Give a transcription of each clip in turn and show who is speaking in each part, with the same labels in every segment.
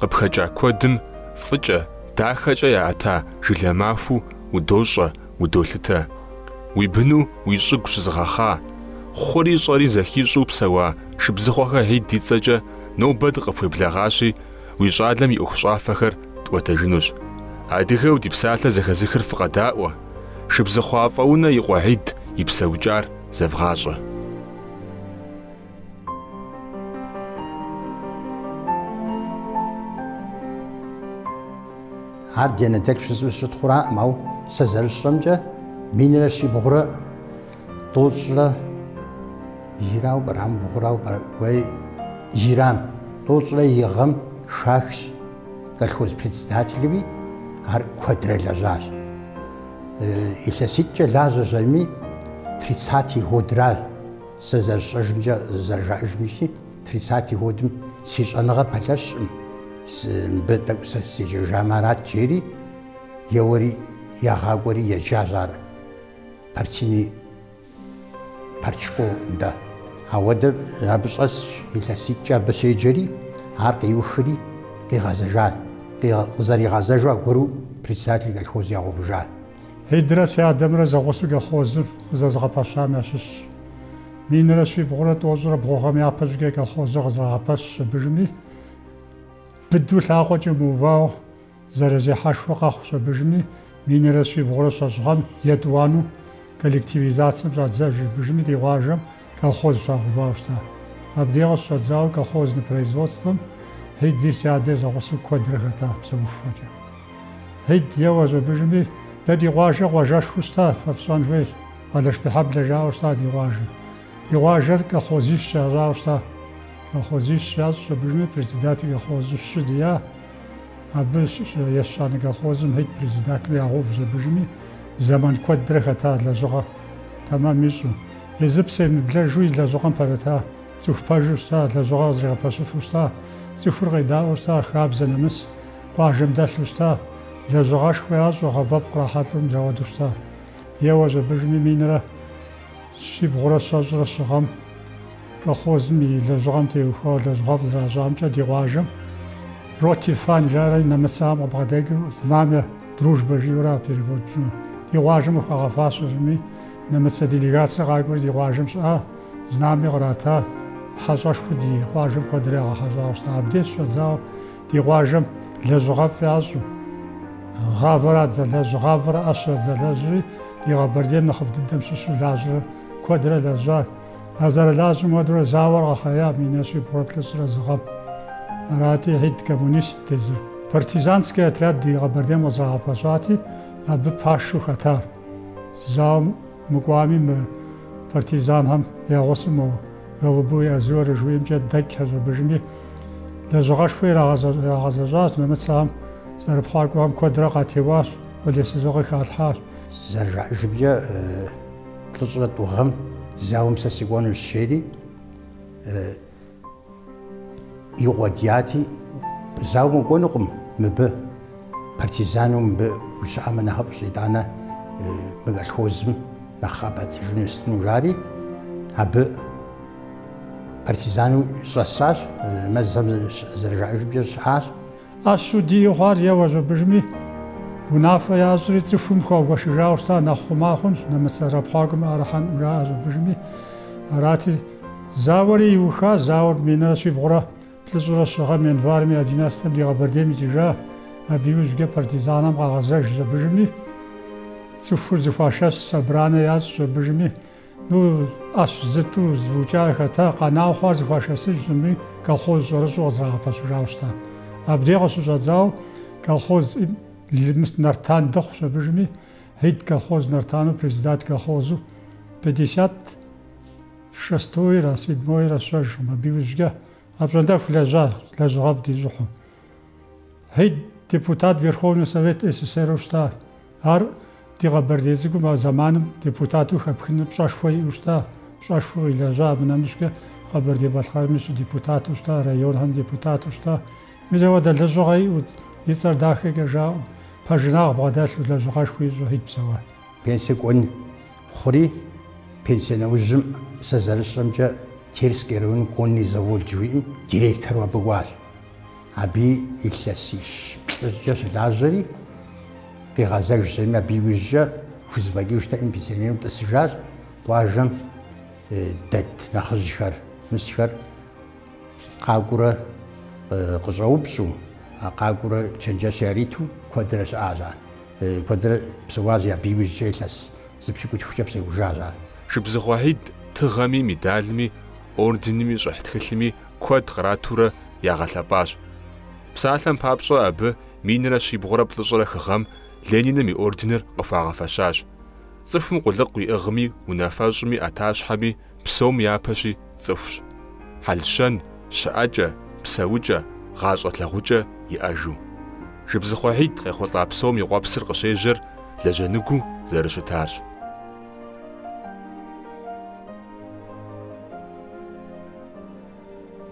Speaker 1: Къыпхэкӏа куэдым фӏыкӏэ, дахэкӏэ яӏэта жылэ махуэу удощӏэ, удолъытэ. Уи быну уи щӏыгу щызыгъэхъа, хъури щӏэри зэхищӏу псэуа шыбзыхъуэхэ Хьид и цӏэкӏэ нобэ дыкъыпхуеблэгъащи, уи щӏалэм и ӏуэхущӏафэхэр тӏуэтэжынущ. Адыгэу ди псалъэ зэхэзыхыр фыкъэдаӏуэ, Шыбзыхъуэ Афӏэунэ и къуэ Хьид и псэукӏар зэвгъащӏэ. Ар ди анэ дэлъхущи сыщытхъураӏым, ауэ сэ зэрысщӏэмкӏэ минрэ щибгъурэ тӏощӏрэ ирауэ пӏэрэ, бгъурауэ уей ирам тӏощӏрэ и гъэм хахщ колхоз председателуи, ар куэдрэ лэжьащ. Илъэситӏкӏэ лажьэщ ими, тридцатый годращ. Сэ зэрысщӏэжымкӏэ, зэрыжаӏэжымкӏи, тридцатый годым си щӏэныгъэр пэлъэщкъым, мыбы тӏэкӏу сэ седжэжамэ арат, жери еуэри ягъакӏуэри еджащ ар партийный партшкол нтӏэ. Ауэдэ абы щӏэсщ, илъэситӏкӏэ абы щеджэри, ар къиухри къигъэзэжа, къызэригъэзэжу аргуэру председатель колхоз ягъэувыжа. Хьидрэ си адэмрэ зэгъусэу колхозыр къызэзыгъэпэщам ящыщщ. Минрэ щибгъурэ тӏощӏрэ бгъу гъэм япэщӏыкӏэ колхозыр къызэрагъэпэщщ абы жыми, быдэу лъакъуэкӏэ мыувауэ зэрызехьэшхуэ къэхъущ абы жыми, минрэ щибгъурэ щэщӏ гъэм, етӏуанэу коллективизацэм щӏадзэж абы жыми ди къуажэм. Колхоз щагъэувауэ щыта. Абдей къыщыщӏэдзауэ колхозный производствэм Хьиди си адэри зэгъусэу куэдрэ хэта псэухуэкӏэ. Хьид, еуэщ абы жыми, дэ ди къуажэр къуажэшхуэу щыта, фэ фщӏэн хуейщ, Къылышбийхьэблэ жауэ щыта ди къуажэ. Ди къуажэр колхозищ ящӏауэ щыта. Колхозищ ящӏщ абы жыми, председатель колхозу щы дия. Абы ещанэ колхозым Хьид председателу ягъэувщ абы жыми, зэман куэдрэ хэта лэжьыгъэ тэмэм ищӏу. Езы псэ емыблэжу и лэжьыгъэм пэрыта, цӏыху пэжу щыта, лэжьыгъэ къызэригъэпэщыфу щыта, цӏыхур къедаӏуэу щыта, хабзэ нэмыс, къуажэм дэлъу щыта, лэжьыгъэшхуэ ящӏу, гъэвэфӏ кърахьэлӏэу мис ауэдэу щыта. Еуэщ абы жыми минрэ щибгъурэ щэщӏрэ щы гъэм колхозым и лэжьыгъэм теухуауэ лэжьыгъэфӏ зэращӏамкӏэ ди къуажэм Роте Фане жарэ нэмыцэхэм къыбгъэдэкӏыу Знамя дружбы жиӏэурэ а переводщӏыну ди къуажэм къыхуагъэфащэщ ими Нэмыцэ делегацэ къакӏуэри ди къуажэм щыӏа знами кърата, хьэщӏэшхуэу ди къуажэм куэдрэ ягъэхьэщӏауэ щыта. Абдеж щӏэдзауэ ди къуажэм лэжьыгъэфӏ ящӏу, гъавэр адзэлэжьу, гъавэр ӏэщ адзэлэжьри, ди Къэбэрдейм нэхъыфӏ дыдэм щыщу лажьэурэ куэдрэ лэжьа. А зэрылажьэм хуэдэурэ зауэр къэхъея минрэ щибгъурэ плӏыщӏрэ зы гъэм. Арати, Хьид коммунистт езыр. Партизанскэ отряд ди Къэбэрдейм къызэрагъэпэщати, абы пашэу хэтар. Зауэм мыкӏуами, мы партизанхэм я гъусэу мо Голубое озеро жыхуиӏэмкӏэ дэкӏхэщ абыжми, лэжьыгъэшхуэ ирагъэзэщӏащ нэмыцэхэм, зэрыпхъуакӏуэхэм куэдрэ къатеуащ, къулейсызыгъэ къыхалъхьащ. Зэрыжаӏэжымкӏэ, плӏыщӏрэ тӏу гъэм зауэм сэ сыкӏуэнущ, жери. Игъуэдяти, зауэм укӏуэнукъым мыбы, партизанэу мыбы ущыӏэмэ нэхъыфӏщ, итӏанэ мы колхозым нэхъ къэпӏэтыжыну сытыну жари, абы партизанэу щӏэсащ, мэзхэм зэрыжаӏэжымкӏэ щыӏащ. ӏэщу диӏэу хъуар еуэщ абыжми, унафэ ящӏри цӏыхум хуагуэшыжауэ щыта нэхъ хъума хъунщ, нэмыцэ зэрыпхъуакӏуэм ӏэрыхьэнкъым жаӏэщ абыжми. Арати, зауэри иуха, зауэр минрэ щибгъурэ плӏыщӏрэ щы гъэм январым и одиннадцатэм ди Къэбэрдейм икӏыжа, абы иужькӏэ партизанэм къагъэзэжщ абыжми, цӏыхур зыхуашэс собранэ ящӏщ абыжми, Ну, ӏэщ сыту зыукӏар хэта, къэна хъуар зыхуашэсыж щӏыми, колхоз щӏэрыщӏэу къызэрагъэпэщыжауэ щыта. Абдей къыщыщӏэдзау колхоз Лымыс Нартан дыхъущ абыжми, Хьид колхоз Нартану председатель колхозу пятьдесят шестойрэ седьмойрэ сщӏэжкъым, абы иужькӏэ апщӏондэху лэжьа, лэжьыгъэфӏ дищӏыхьу. Хьид депутат Верховный Совет СССР-у щта. Ар ди Къэбэрдей цӏыкӏум а зэманым депутату хэпхыным пщӏэшхуэ иӏэу щта, пщӏэшхуэу къилэжьа, абы нэмыщӏкӏэ Къэбэрдей-Балъкъэрми щыдепутату щта, районхэм депутату щта. Мис апхуэдэ лэжьыгъэ иӏэу, и цӏэр дахэкӏэ жаӏэу, пэжынагъ бгъэдэлъу лэжьыгъэшхуэ ищӏу Хьид псэуа. Пенсэ кӏуэн хъури, пенсэ нэужьым сэ зэрысщӏэмкӏэ Терскэ район конный завод жыхуиӏэм директору абы кӏуащ. Абы илъэсищ-плӏыкӏэ щылажьэри, къигъэзэж зэми абы иужькӏэ хузэфӏэкӏыжтэкъым, пенсионерым тӏысыжащ, къуажэм дэт нэхъыжьхэр, мысхэр къакӏуурэ къыщӏэупщӏу, а къакӏуурэ чэнджэщ яриту куэдрэ щыӏащ ар, куэдрэ псэуащ, абы иужькӏэ илъэс зы пщыкӏутхукӏэ псэужащ ар. Шыбзыхъуэ Хьид тыгъэми, медалми, орденми, щӏыхь тхылъми куэд къратурэ ягъэлъэпӏащ. Псалъэм папщӏэ, абы минрэ щибгъурэ плӏыщӏрэ хы гъэм Лениным и орденыр къыхуагъэфэщащ. Цӏыхум къулыкъу иӏыгъми, унафэщӏми, ӏэтащхьэми, псом япэщи цӏыхущ. Хьэл-щэн, щыӏэкӏэ, псэукӏэ, гъащӏэ лъагъукӏэ иӏэжу. Шыбзыхъуэ Хьид къехъулӏа псом и къуэпсыр къыщежьэр лэжьэныгуу зэрыщытарщ.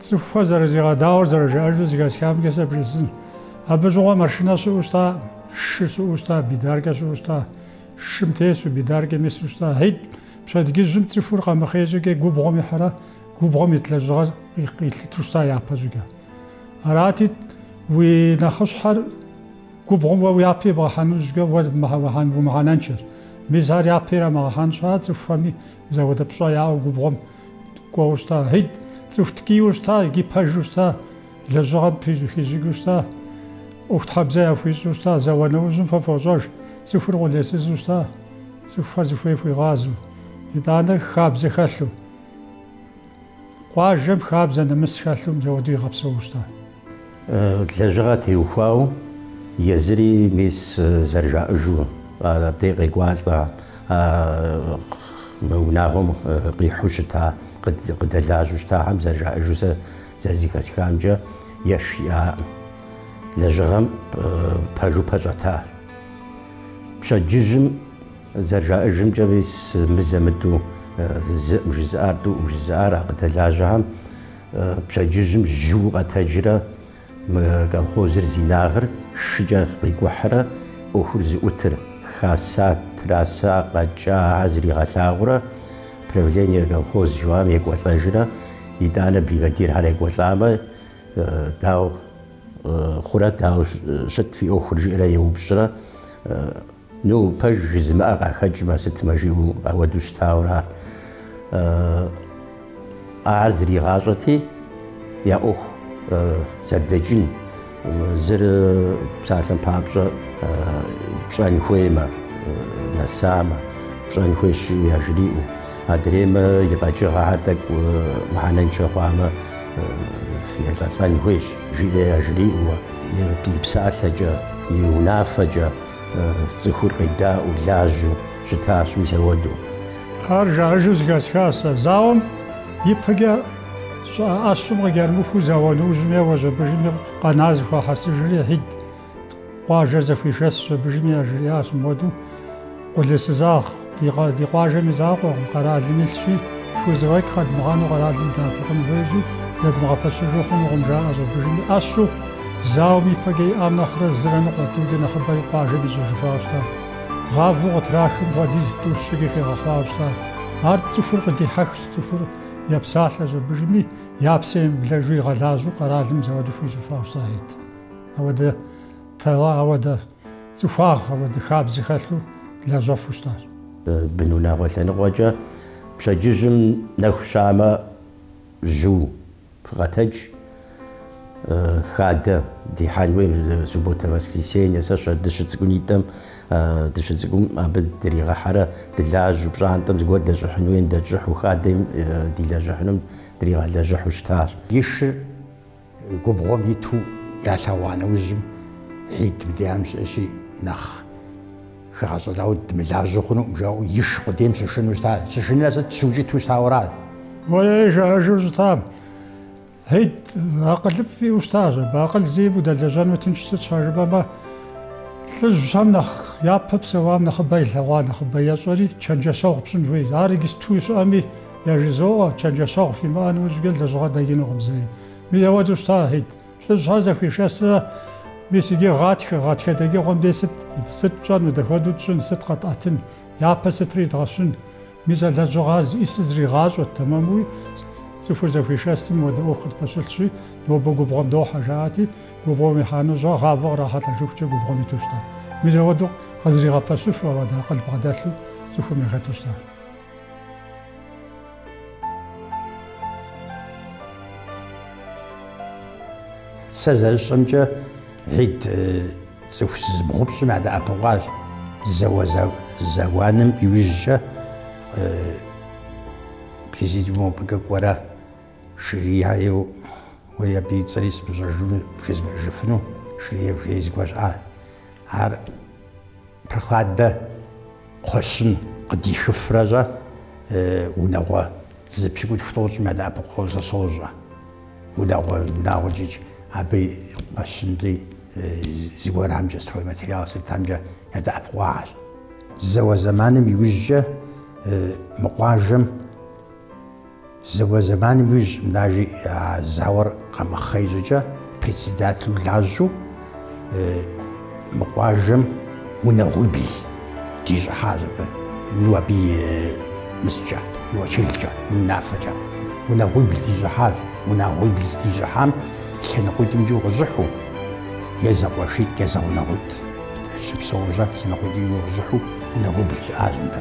Speaker 1: Цӏыхухэр зэрызигъэдаӏуэр зэрыжаӏэжу зыхэсхамкӏэ сэ бжесӏын. Абы щыгъуэ машинэ щыӏэу щта, шы щыӏэу щта, бидаркэ щыӏэу щта, шым тесу, бидаркэм ису щта. Хьид, пщэдгыжьым цӏыхур къэмыхъей щӏыкӏэ губгъуэм ихьэрэ губгъуэм ит лэжьыгъэр къилъыту щта япэ щӏыкӏэ. Арати, уи нэхъыщхьэр губгъуэм уэ япэ ибгъэхьэну щытмэ уэ умыхьэнэншэщ. Мис ар япэ ирамыгъэхьэн щхьэкӏэ цӏыхухэми, мис апхуэдэ пщӏэ яӏэу губгъуэм кӏуэу щта, Хьид, цӏыху ткӏийуэ щта икӏи пэжу щта, лэжьыгъэм хищӏыкӏыу щта, ӏуэхутхьэбзэ яхуищӏу щта, зауэ нэужьым фэ фощӏэж, цӏыхур къулейсызу щта, цӏыхухэр зыхуей хуигъазэу, итӏанэ хабзэ хэлъу. Къуажэм хабзэ нэмыс хэлъу мис ауэдэу игъэпсэу щта. Лэжьыгъэ теухуауэ езыри мис зэрыжаӏэжу абдей къекӏуалӏэ, а мы унагъуэм къихьэу щыта, къыдэлажьэу щытахэм зэрыжаӏэжу сэ зэрызыхэсхамкӏэ еш иӏакъым. Лэжьыгъэм пэжу пэщӏэтащ. Пщэдджыжьым зэрыжаӏэжымкӏэ мис мызэ-мытӏэу зыӏым жызыӏар, тӏуӏым жызыӏар а къыдэлажьэхэм, Пщэдджыжьым жьыу къэтэджрэ мы колхозыр зи инагъыр шыкӏэ къикӏухьрэ ӏуэхур зыӏутыр хаса, траса къэкӏахэр зригъэлъагъурэ правление колхоз жыхуаӏэм екӏуэлӏэжрэ, итӏанэ бригадирхэр екӏуэлӏамэ, дауэ хъурэ, дауэ щыт фи ӏуэхур жиӏэрэ еупщӏрэ. Ну, пэж жызымыӏэр къахэкӏмэ, сыт мэ жиӏэу ауэдэу щытауэ аращ. Ар зригъащӏэти, я ӏуэху зэрыдэкӏын, зыр псалъэм папщӏэ пщӏэн хуеймэ, нэсамэ, пщӏэн хуейщ жиӏэу яжриӏэу, адреймэ и къэкӏыгъэхэр тӏэкӏу мыхьэнэншэ хъуамэ, елӏэлӏэн хуейщ, жиӏэу яжриӏэуэ, и псалъэкӏэ, и унафэкӏэ. Цӏыхур къедаӏуэу, лажьэу щытащ мис ауэдэу. Ар жаӏэжу зыхэсхащ сэ. Зауэм ипэкӏэ щыӏа ӏэщым къыкӏэрымыхуу зауэ нэужьым е уэжьэбыжым и къэна зыхуахьэсыжри, Хьид къуажэр зэхуишэсщ, жьэбыжыми яжриӏащ мыуэдэу, Къулейсызагъ Ди къаз, ди къуажэм и закъуэкъым, къэралым илъщи, тхузэфӏэкӏ къэдмыгъэну къэралым дыдэӏэпыкъун хуейщи, зэдмыгъэпэщыжу хъунукъым, жаӏэ щӏэбыжым и ӏэщу, зауэм ипэкӏэ иӏам нэхърэ зырэ ныкъуэ тӏукӏэ нэхъыбэ и къуажэм ищӏыжыфауэ щыта. Гъавэу къытрахым хуэдиз тӏу-щыкӏэ хигъэхъуауэ щыта. Ар цӏыхур къыдихьэхщ, цӏыхур епсалъэ щӏэбыжми, я псэм емыблэжу игъэлажьэу къэралым мис ауэдэ хуищӏыфауэ щытахэт. Ауэдэ. Тэлэ ауэдэ цӏыхуагъ, ауэдэ хабзэ хэлъу лэжьэфу щытащ. Бынунагъуэ лъэныкъуэкӏэ пщэдджыжьым нэху щамэ жьыу фыкъэтэдж, хадэ дихьэн хуей, субботэ, воскресенье, сэ щэ дыщыцӏыкӏунитӏэм, дыщыцӏыкӏум абы дригъэхьэрэ дылажьэу, пщӏантӏэм зыгуэр дэщӏыхьын хуейм дэтщӏыхьу, хадэм дилэжьыхьынум дригъэлэжьыхьу щытащ. И шыр. Губгъуэм иту ялъэгъуа нэужьым, Хьид мыдейм щыӏэщи, нэхъ хэгъэщӏэлауэ дымылажьэу хъунукъым, жаӏэу иш къудейм щышыну щыта. Щышынрэ сыт, щыукӏыту щытауэра? Уей, жаӏэжу щытам. Хьид акъылыфӏ иӏэу щытащ, абы акъыл зиӏэм удэлэжьэну тыншщ, сыт щхьэ жыпӏэмэ, лӏыжьхэм нэхъ япэ псэуам нэхъыбэ илъэгъуа нэхъыбэ ещӏэри, чэнджэщэгъу пщӏын хуейщ. Ар иджыпсту щыӏэми, Яжызоӏэ, чэнджэщэгъу фимыӏэ нэужькӏэ лэжьыгъэ дэкӏынукъым зэи. Мис ауэдэу щыта Хьид. Лӏыжьхэр зэхуишэсрэ, мис иджы гъатхэ, гъатхэ дэкӏыгъуэм дей сыт, сыт тщӏэну, дэхуэдэу тщӏын, сыт къэтӏэтын, япэ сытыр идгъэщын? Мис а лэжьыгъэ ӏисыр зригъащӏэт, тэмэмуи, цӏыхур зэхуешэс мыуэдэ ӏуэху къытпэщылъщи, нобэ губгъуэм дохьэ, жаӏати, губгъуэм ихьэну щыта, гъавэ кърахьэлӏэжыхукӏэ губгъуэм иту щыта. Мис ауэдэу къызригъэпэщу ауэдэ акъыл бгъэдэлъу цӏыхум яхэту щыта. Сэ зэрысщӏэмкӏэ, Хьид цӏыху зыбгъупщӏым ядэӏэпыкъуащ, зауэ зэманым иужькӏэ президиумым мыбыкӏэ кӏуэрэ Ширяев уэри абы и цӏэри сымыщӏэжыну, бжезмыӏэжыфыну, Ширяев жери зыгуэр щыӏа. Ар Прохладэ. Кхъуэщын къыдихыфрэщӏэ унагъуэ зыпщыкӏутху тӏощӏым ядэӏэпыкъуагъэу сэ сощӏэ. Унагъуэ, унагъуэ щӏыкӏ, абы и кхъуэщынри зыгуэрхэмкӏэ стройматериал сытхэмкӏэ ядэӏэпыкъуагъэщ. Зауэ зэманым иужькӏэ мы къуажэм Зауэ зэманым иужь Мнажи а зауэр къэмыхъей щӏыкӏэ председателу лажьэу мы къуажэм унагъуибл дищӏыхьащ абы, ну абы и мыскӏэ, и уэчылкӏэ, и унафэкӏэ. Унагъуибл дищӏыхьащ, унагъуибл дищӏыхьам лъэныкъуитӏымкӏи укъыщӏыхьу, е зэкъуэшитӏ, е зэгъунэгъуитӏ щыпсэужу лъэныкъуитӏымкӏи укъыщӏыхьу унагъуибл щыӏащ мыбы.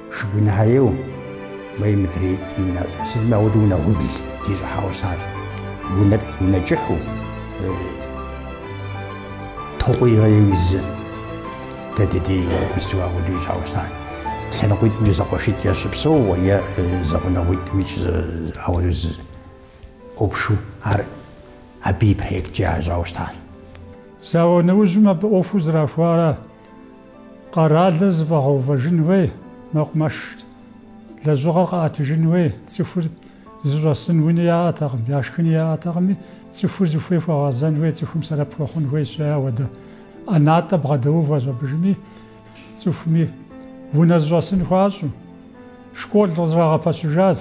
Speaker 1: Шыгунхьэеу, мэй мыдрей иунащӏэ, сытми ауэдэ унагъуибл дыщӏыхьауэ щытащ. Унэр унэ кӏыхьу, токъуигъэеуи зы, дэ дыдей мисту ауэдэу ищӏауэ щытащ. Лъэныкъуитӏымкӏэ зэкъуэшитӏ ящыпсэууэ е зэгъунэгъуитӏымкӏ ауэдэу зы ӏупшу ар абы и проекткӏэ ящӏауэ щытащ. Зауэ нэужьым абы ӏуэхур зэрахуарэ? Къэралыр зэфӏэгъэувэжын хуей, мэкъумэш лэжьыгъэр къэӏэтыжын хуей цӏыхур зыщӏэсын уни яӏэтэкъым, яшхыни яӏэтэкъыми, цӏыхур зыхуей хуэгъэзэн хуей, цӏыхум сэрэп хуэхъун хуейщ, ауэдэ ӏэнатӏэ бгъэдэувэщ абдежми, цӏыхуми унэ зыщӏэсын хуащӏу. Школ къызэрагъэпэщыжащ.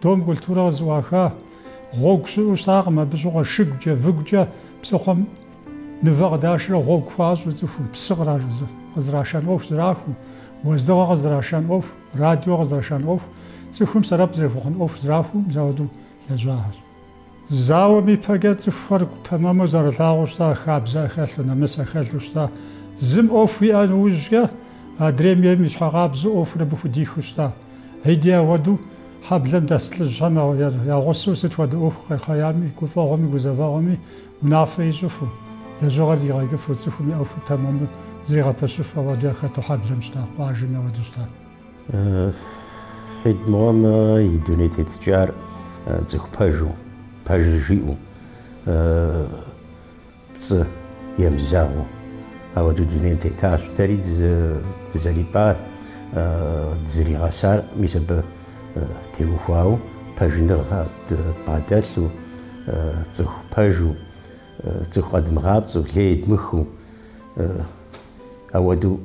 Speaker 1: Дом культурэ къызэӏуаха, гъуэгу щыӏэу щытакъым, абы щыгъуэ шыгукӏэ, выгукӏэ псыхъуэм мывэ къыдашрэ гъуэгу хуащӏу цӏыхум псы къызрашэн ӏуэху зэрахуэу, уэздыгъэ къызрашэн ӏуэху, радио къызрашэн ӏуэху, цӏыхум сэрэп зэрыхуэхъун ӏуэху зэрахуэу мис ауэдэу лэжьахэщ. Зауэм ипэкӏэ цӏыхухэр тэмэму зэрылъагъуу щыта, хабзэ яхэлъу, нэмыс яхэлъу щыта. Зым ӏуэху иӏэ нэужькӏэ, адрейм ейм и щхьэкъабзэу ӏуэхур абы худихыу щыта. Хьиди ауэдэу хьэблэм дэс лӏыжьхэм я гъусэу сыт хуэдэ ӏуэху къехъеями, гуфӏэгъуэми, гузэвэгъуэми унафэ ищӏыфу, лэжьыгъэр дигъэкӏыфу, цӏыхум и ӏуэхур тэмэму зригъэпэщыфу ауэду яхэту хьэблэм щыта, къуажэми ауэду щыта. Хьид мыгъуэм и дуней тетыкӏар цӏыху пэжу, пэжыр жиӏэу, пцӏы емызэгъыу ауэдэу дунейм тетащ. Дэри дызэрипӏар, дызэригъэсар мис абы теухуауэ пэжыныгъэ дбгъэдэлъу, цӏыху пэжу, цӏыху къэдмыгъапцӏэу, лей дмыхыу ауэдэу.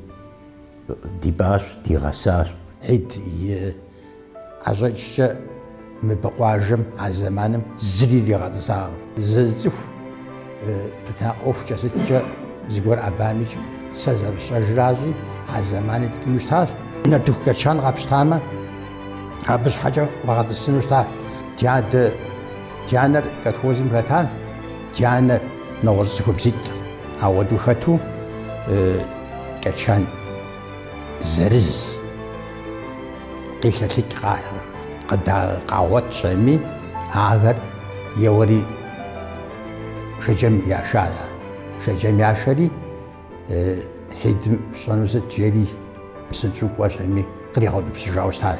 Speaker 1: Дипӏащ, дигъэсащ. Хьид и ӏэщӏэкӏкӏэ мыбы къуажэм а зэманым зыри иригъэтӏысакъым. Зы цӏыху тутнакъ ӏуэхукӏэ сыткӏэ зыгуэр ӏэбамикӏ, сэ зэрысщӏэжращи, а зэмани ткӏийуэ щытащ. Нартыху кӏэчан къапщтамэ, абы щхьэкӏэ уагъэтӏысыну щыта. Ди адэ, ди анэр колхозым хэтащ, ди анэр нэгъуэщӏ цӏыхубзитӏырт. Ауэдэу хэту кӏэчан зырыз къилъэлъыкӏ къыд къагъуэтщ аби, ахэр еуэри Шэджэм яша. Шэджэм яшэри, Хьидым ищӏэну сыт? жери, псынщӏэу кӏуэщ аби, къригъэутӏыпщыжауэ щытащ.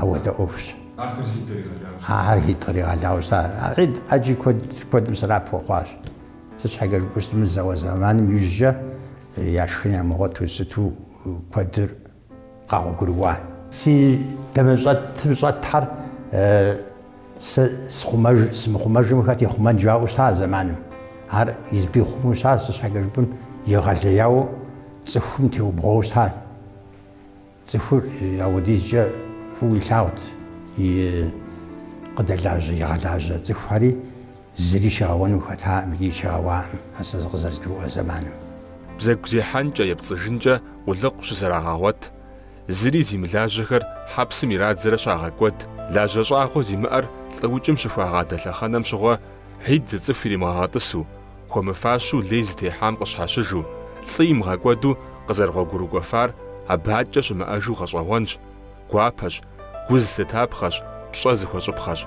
Speaker 1: Ауэдэ ӏуэхущ ахэр Хьид къыригъэлауэ щытар. Хьид ӏэджи куэд, куэдым сэбэп хуэхъуащ. Сыт щхьэкӏэ жыпӏэу щытмэ, зауэ зэманым ижькӏэ я шхын ямыгъуэту сыту куэдыр къэгъуэгурыкӏуа. Си дамэщӏэтым щӏэтхэр сэ схъумэж, сымыхъумэжым хэт ихъумэн жаӏэу щыта а зэманым. Ар избий хъуму щытащ, сыт щхьэкӏэ жыпӏэм, егъэлеяуэ цӏыхум теубгъуауэ щытащ. Цӏыхур ауэдизкӏэ фӏыуэ илъагъут и къыдэлажьэ, игъэлажьэ цӏыхухьэри зыри щигъэуэну хэтаӏым икӏи щигъэуаӏым а сэ зыкъызэрызгурыӏуэ зэманым. Бзэгу зехьэнкӏэ, епцӏыжынкӏэ къулыкъу щызэрагъэгъуэт, зыри зимылажьэхэр хьэпсым ирадзэрэ щагъэкӏуэд, лажьэ щӏагъуэ зимыӏэр лӏыукӏым щыхуагъадэ лъэхъэнэм щыгъуэ, Хьид зы цӏыху иримыгъэгъэтӏысу, Хуэмыфащэу лей зытехьам къыщхьэщыжу, лӏы имыгъэкӏуэду къызэрыгъуэгурыкӏуэфар абы адэкӏэ щымыӏэжу гъэщӏэгъуэнщ, гуапэщ, гу зылъытапхъэщ, пщӏэ зыхуэщӏыпхъэщ.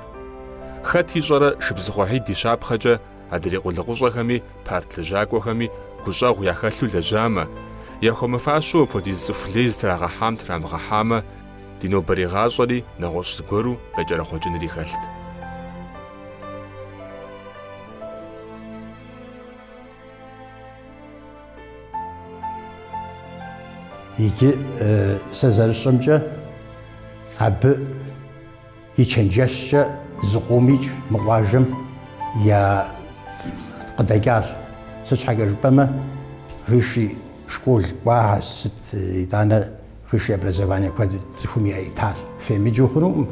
Speaker 1: Хэт ищӏэрэ Шыбзыхъуэ Хьид и щапхъэкӏэ адрей къулыкъущӏэхэми парт лэжьакӏуэхэми гущӏэгъу яхэлъу лэжьамэ, яхуэмыфащэу апхуэдиз цӏыху лей зытрагъэхьам трамыгъэхьамэ, ди нобэрей гъащӏэри нэгъуэщӏ зыгуэру къекӏэрэхъуэкӏынри хэлът. Иджы сэ зэрысщӏэмкӏэ, абы и чэнджэщкӏэ зыкъом икӏ мы къуажэм я къыдэкӏащ. Сыт щхьэкӏэ жыпӏэмэ, высший школ кӏуа, сыт итӏанэ высшее образование куэд цӏыхум яитащ. Фемыджу хъунукъым.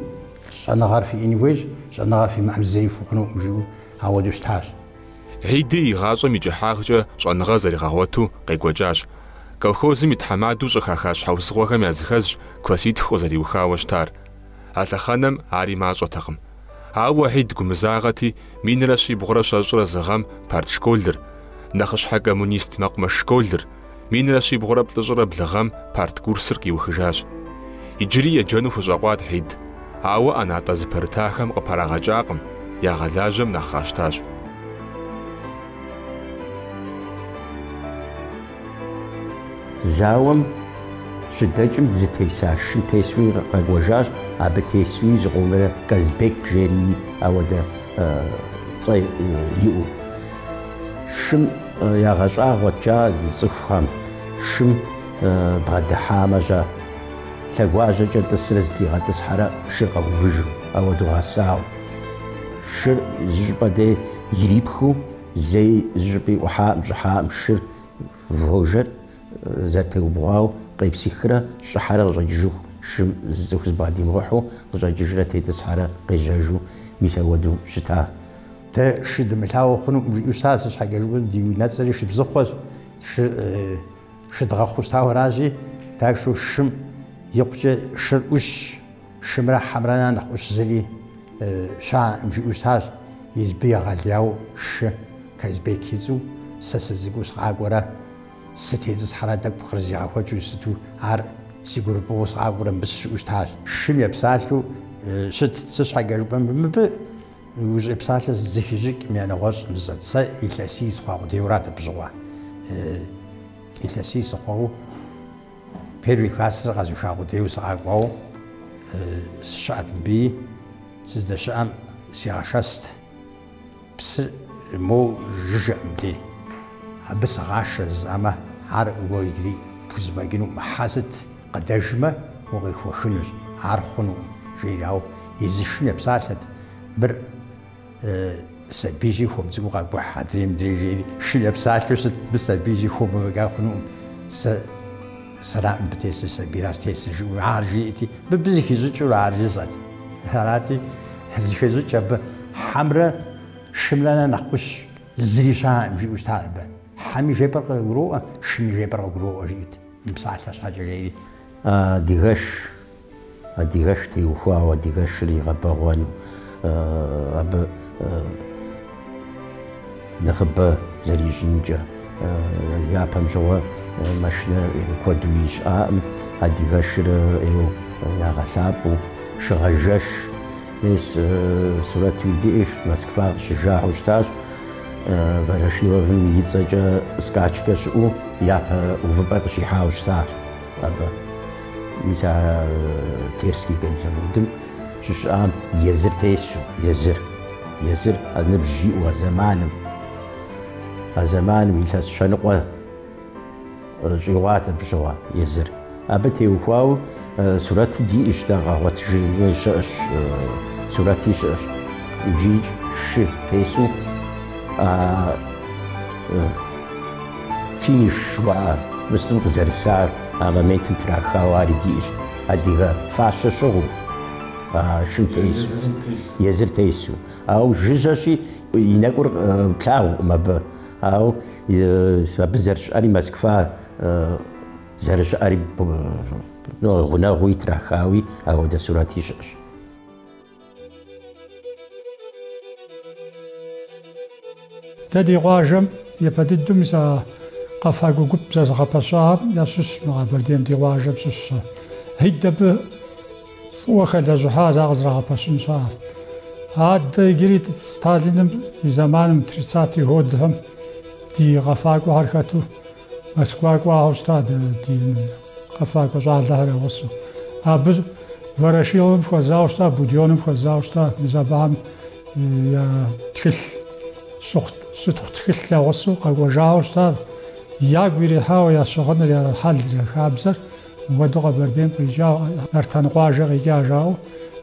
Speaker 1: Щӏэныгъэр фиӏэн хуейщ, щӏэныгъэ фимыӏэм зыри фыхъунукъым, жиӏэу ауэдэу щытащ. Хьиди и гъащӏэм и кӏыхьагъкӏэ щӏэныгъэр зэригъэгъуэту къекӏуэкӏащ. Колхозым и тхьэмадэу щӏыхаха щхьэусыгъуэхэм языхэзщ класситху къызэриухауэ щытар. А лъэхъэнэм ари мащӏэтэкъым. Ауэ Хьид гумызагъэти, минрэ щибгъурэ щэщӏрэ зы гъэм партшколыр, нэхъыщхьэ коммунист мэкъумэш школыр, Минрэ щибгъурэ плӏыщӏрэ блы гъэм парт курсыр къиухыжащ. Иджыри еджэну хущӏэкъуат Хьид, ауэ ӏэнатӏэ зыпэрытахэм къыпэрагъэкӏакъым, ягъэлажьэм нэхъ къащтащ. Зауэм щыдэкӏым зытеса шым тесуи къэкӏуэжащ, абы тесуи зыкъомрэ Казбек жери ауэдэ цӏэ иӏэу. Шым Ягъэщӏагъуэт кӏа зи цӏыхухэм, шым бгъэдыхьамэ шыр лъэгуажьэкӏэ тӏысрэ зытригъэтӏысхьэрэ шыр къэувыжу, ауэду гъэсауэ. Шыр зыщӏыпӏэ дей ирипхыу, зэи зыщӏыпӏи ӏухьаӏым, щӏыхьаӏым шыр вожэр зэрытеубгъуауэ къепсихрэ щӏыхьэрэ къыщӏэкӏыжыху шым зы цӏыху зыбгъэдимыгъыхьу къыщӏэкӏыжрэ тетӏысхьэрэ къежьэжу, мис ауэду щытащ. Дэ шы дымылъагъуу хъунукъым, жиӏэу щытащ, сыт щхьэкӏэ жыпӏэм ди унэцӏэри Шыбзыхъуэщ, шы, шы дгъэхъуу щытауэращи, так что шым икъукӏэ шыр ӏущщ, шымрэ хьэмрэ нэхърэ нэхъ ӏущ зыри щаӏэкъым, жиӏэу щытащ, Езыбы егъэлеяуэ шы, Казбек и цӏэу, сэ сыцӏыкӏуу сыкъакӏуэрэ, сытетӏысхьэрэ тӏэкӏу къырызигъэхуэкӏыу щыту ар си гурыфӏыгъуу сыкъакӏуэрэ мыбы сыщыӏэу щытащ. Шым епсалъэу щытт, сыт щхьэкӏэ жыпӏэм мыбы Ужьӏей псалъэ зыхищӏыкӏ мя нэгъуэщӏ жысӏэт, сэ илъэсий сыхъуа къудейуэрат абы щыгъуэ. Илъэсий сыхъуэу первый классыр къэзуха къудейуэ сыкъакӏуэу сыщыӏэт мыбыи, сыздэщыӏэм сигъэшэст. Псыр моу жыжьэкъым мыбдей. Абы сыгъашэ жысӏэмэ, ар уэ иджыри пхузэфӏэкӏынукъым, хьэ сыт? Къыдэжмэ, укъихуэхынущ. Ар хъунукъым, жери, ауэ езыр шым епсалъэт, Мыр сабийщи, хуэм цӏыкӏуу къэкӏухь, адрей мыдрей жери, шым епсалъэу щыт, Мыр сабийщи, хуэму фӏэкӏа хъунукъым, сэ сэракъым мыбы тесыр, сабийращ тесыр, жиӏэу, ар жиӏэрти, мыбы зыхищӏыкӏыурэ ар жысӏэт. Арати, зыхещӏыкӏ абы хьэмрэ шымрэ нэхъ нэхъ ӏущ зыри щаӏэкъым, жиӏэу щытат абы. Хьэми жепӏэр къыгуроӏуэ, шыми жепӏэр къыгуроӏуэ, жиӏэрт. И псалъэ щхьэкӏэ жери адыгэш, адыгэш теухуауэ адыгэшыр игъэбэгъуэну, абы нэхъыбэ зэрищӏынкӏэ. Япэм щыгъуэ машинэ куэду щыӏаӏым, адыгэшыр ӏейуэ ягъэлъапӏэу, шыгъэжэш. Мис сурэти диӏэщ Москва къыщыжауэ щытащ Ворошиловым и цӏэкӏэ скачкэ щыӏэу япэ увыпӏэ къыщихьауэ щытащ абы. Мис а Терский конзаводым щыщыӏам езыр тесу, езыр, езыр а ныбжь иӏэу а зэманым, а зэманым илъэс щэныкъуэ. Щӏигъуат абы щыгъуэ езыр. Абы теухуауэ сурэти диӏэщ, дэ къэгъуэтыжыгъуи щыӏэщ, сурэти щыӏэщ. Иджы икӏи шы тесу финиш жыхуаӏэ местэм къызэрысар, а моментым трахауэ ари диӏэщ. Адыгэ фащэ щыгъыу шым тесу, езыр тесу. Ауэ жыжьэщи, и нэкӏур плъагъукъым абы. Ау абы зэрыщыӏэри Москва зэрыщыӏэри гъунэгъуу итрахауи ауэдэ сурэти щыӏэщ. Дэ ди къуажэм япэ дыдэу мис а къэфакӏуэ гуп зэзыгъэпэщахэм ящыщщ мы Къэбэрдейм ди къуажэм щыщщ. Хьид абы. Фӏыуэ хэлэжьыхьа ар къызэрагъэпэщын щхьэкӏэ. Адэ иджыри Сталиным и зэманым, тридцатые годхэм ди къэфакӏуэхэр хэту Москва кӏуахэу щыта дэ ди къэфакӏуэ щӏалэхэр я гъусэу. Абы Ворошиловым хуэзауэ щыта, Будёным хуэзауэ щыта, мис абыхэм я тхылъ щыхъу щытхъу тхылъ я гъусэу къэкӏуэжахэу щыта, ягу ирихьауэ я щыгъыныр, я хьэлыр, я хабзэр. Мыбдугъэ Къэбэрдейм къикӏауэ Нартан къуажэ къикӏа жаӏэу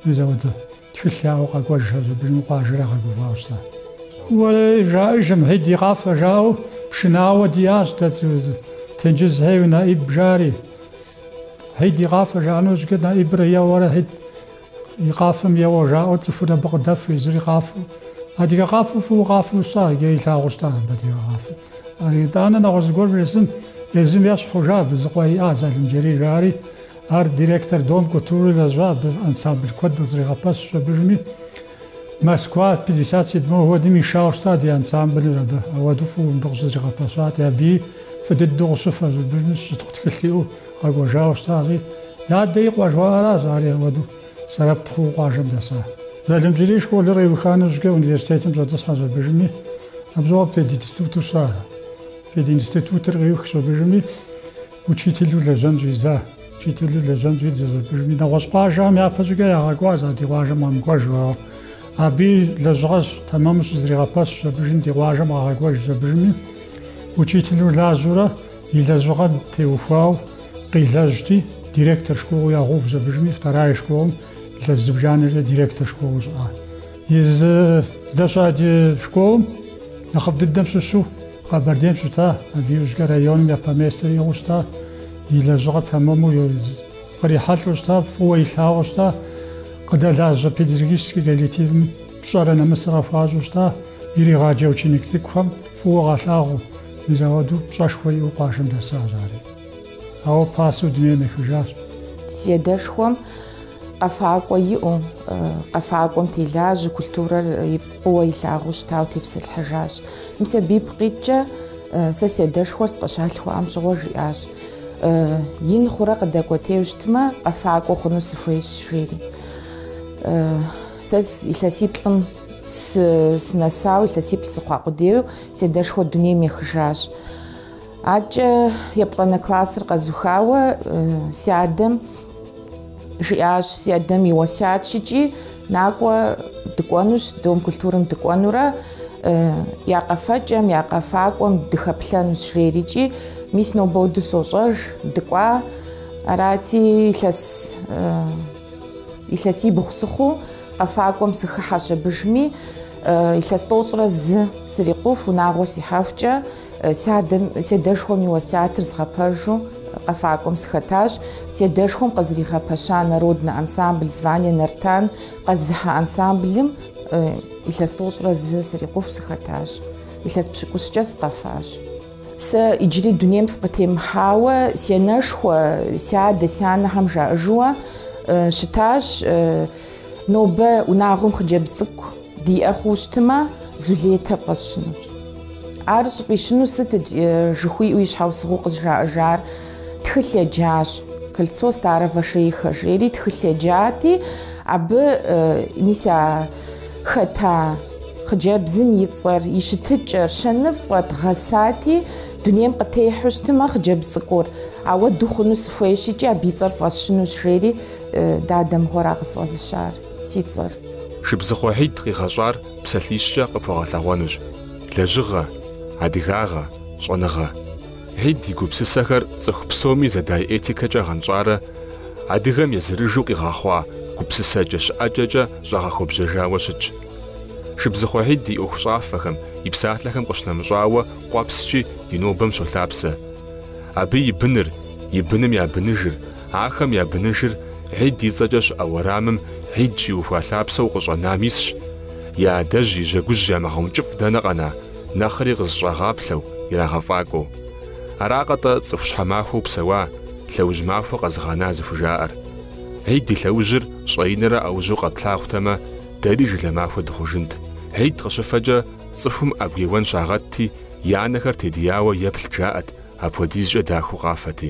Speaker 1: мис ауэдэ тхылъ яӏэу къэкӏуэжщ абыжми къуажэр ягъэгуфӏауэ щыта. Уэрэ жаӏэжым Хьид и къафэ жаӏэу пшынауэ диӏащ дэ Тенджызхэ ейуэ Наиб жари. Хьид и къафэ жаӏэну щӏыкӏэ Наибыр еуэрэ Хьид и къафэм еуэ жаӏэу цӏыхур абы къыдэфу езыри къафэу. Адыгэ къафэу фӏыуэ къафэу щыта, иджы илъагъуу щыта абы адыгэ къафэ. Ар итӏанэ нэгъуэщӏ зыгуэр вжесӏэн езым ещхь хъужа абы зы къуэ иӏа Залымджэрий жаӏэри, ар директор Дом культуры лэжьа абы ансамбль куэд къызэригъэпэщщ абыжми. Москва пятьдесят седьмой годым ишауэ щыта ди ансамблыр абы, ауэду фӏыуэ мыбы къыщызэригъэпэщати, абыи фӏы дыдэу къыщыфэщ абыжми щытхъу тхылъ иӏэу къэкӏуэжауэ щытащи, адэ и къуэ жыхуаӏэращ ари ауэду. Сэбэп хъуу къуажэм дэса. Залымджэрий школыр къиуха нэужкӏэ университетым щӏэтӏысхьэщ абыжми, абы щыгъуэ пединституту щыта. Пединститутыр къиухщ абыжми, учителу лэжьэн щӏидза. Учителу лэжьэн щӏидзэщ абыжми, нэгъуэщӏ къуажэхэм япэщӏыкӏэ ягъэкӏуащ а ди къуажэм къэмыкӏуэж жаӏэу. Абыи лэжьыгъэр тэмэму щызэригъэпэщщ абыжми ди къуажэм къагъэкӏуэжщ абыжми, учителу лажьэурэ. И лэжьыгъэм теухуауэ къилэжьти, директор школу ягъэувщ абыжми, вторая школым илъэс зыбжанэкӏэ директор школу щыӏа. Езы здэщыӏа ди школым нэхъыфӏ дыдэм щыщу Къэбэрдейм щыта, абы иужькӏэ районым япэ местэр иӏыгъыу щыта, и лэжьыгъэр тэмэму кърихьэлӏэу щыта, фӏыуэ илъагъуу щыта, къыдэлажьэ педагогическэ коллективым пщӏэрэ нэмысыр къыхуащӏу щыта, иригъаджэ ученик цӏыкӏухэм фӏыуэ къалъагъуу. Мис ауэду пщӏэшхуэ иӏэу къуажэм дэсащ ари. Ауэ пасэу дунейм ехыжащ. Си адэшхуэм къэфакӏуэ иӏэу, къэфакӏуэм телажьэу, культурэр фӏыуэ илъагъуу щытауэ тепсэлъыхьыжащ. Мис абы ипкъ иткӏэ сэ си адэшхуэр сыкъыщалъхуам щыгъуэ жиӏащ, Ин хъурэ къыдэкӏуэтейуэ щытмэ, къэфакӏуэ хъуну сыхуейщ, жери. Сэ илъэсиплӏым Сынэсауэ, илъэсиплӏ сыхъуа къудейуэ, си адэшхуэр дунейм ехыжащ. Адэкӏэ еплӏанэ классыр къэзухауэ си адэм жиӏащ, си адэм и уэсятщ икӏи, накӏуэ дыкӏуэнущ, Дом культурым дыкӏуэнурэ я къэфэкӏэм, я къэфакӏуэм дыхэплъэнущ жери икӏи, мис нобэ хуэдэу сощӏэж, дыкӏуа. Арати, илъэс Илъэсибгъу сыхъуу къэфакӏуэм сыхыхьэщ абдежми, илъэс тӏощӏрэ зы срикъуху, унагъуэ сихьэхукӏэ, си адэм, си адэшхуэм и уэсятыр згъэпэжу къэфакӏуэм сыхэтащ. Си адэшхуэм къызэригъэпэща народнэ ансамбль звание Нартан къэзыхьа ансамблым илъэс тӏощӏрэ зы срикъуху сыхэтащ. Илъэс пщыкӏущкӏэ сыкъэфащ. Сэ иджыри дунейм сыкъытемыхьауэ си анэшхуэ, си адэ, си анэхэм жаӏэжыуэ щытащ, Нобэ унагъуэм хъыджэбз цӏыкӏу диӏэ хъуу щытмэ, Зулетэ фӏэсщынущ. Ар щӏыфӏищыну сыт? жыхуиӏэу и щхьэусыгъуэу къызжаӏэжар тхылъ еджащ. Кольцо старого шейха жери тхылъ еджати, абы мис а хэта хъыджэбзым и цӏэр, и щытыкӏэр, щэныфӏэт, гъэсати, дунейм къытехьу щытмэ хъыджэбз цӏыкӏур, апхуэдэу хъуну сыхуейщ икӏи абы и цӏэр фӏэсщынущ, жери дадэ мыгъуэра къысфӏэзыщар си цӏэр. Шыбзыхъуэ Хьид къигъэщӏар псалъищкӏэ къыпхуэгъэлъэгъуэнущ, лэжьыгъэ, адыгагъэ, щӏэныгъэ. Хьид и гупсысэхэр цӏыху псоми зэдай этикэкӏэ гъэнщӏарэ адыгэм езырыжу къигъэхъуа гупсысэкӏэ щыӏэкӏэкӏэ щӏагъэхуэбжьэжауэ щытщ. Шыбзыхъуэ Хьид и ӏуэхущӏафэхэм, и псалъэхэм къыщынэмыщӏауэ къуэпскӏи ди нобэм щолъапсэ. Абы и быныр, и быным я быныжыр, ахэм я быныжыр Хьид и цӏэкӏэ щыӏэ уэрамым Хьид щиухуа лъапсэу къыщӏэнам исщ, я адэжь и жьэгужь ямыгъэункӏыфӏ дэнэ къэна? нэхъри къызэщӏагъаплъэу, ирагъэфӏакӏуэу. Аракъэ-тӏэ цӏыху щхьэмахуэу псэуа, лъэужь махуэ къэзыгъэна зыхужаӏэр. Хьид и лъэужьыр щӏэинрэ ӏэужьу къэтлъагъутэмэ, дэри жылэ махуэ дыхъужынт. Хьид къыщыфэкӏэ цӏыхум ӏэгу еуэн щагъэтти, я нэхэр тедияуэ еплът жаӏэт, апхуэдизкӏэ дахэу къафэти.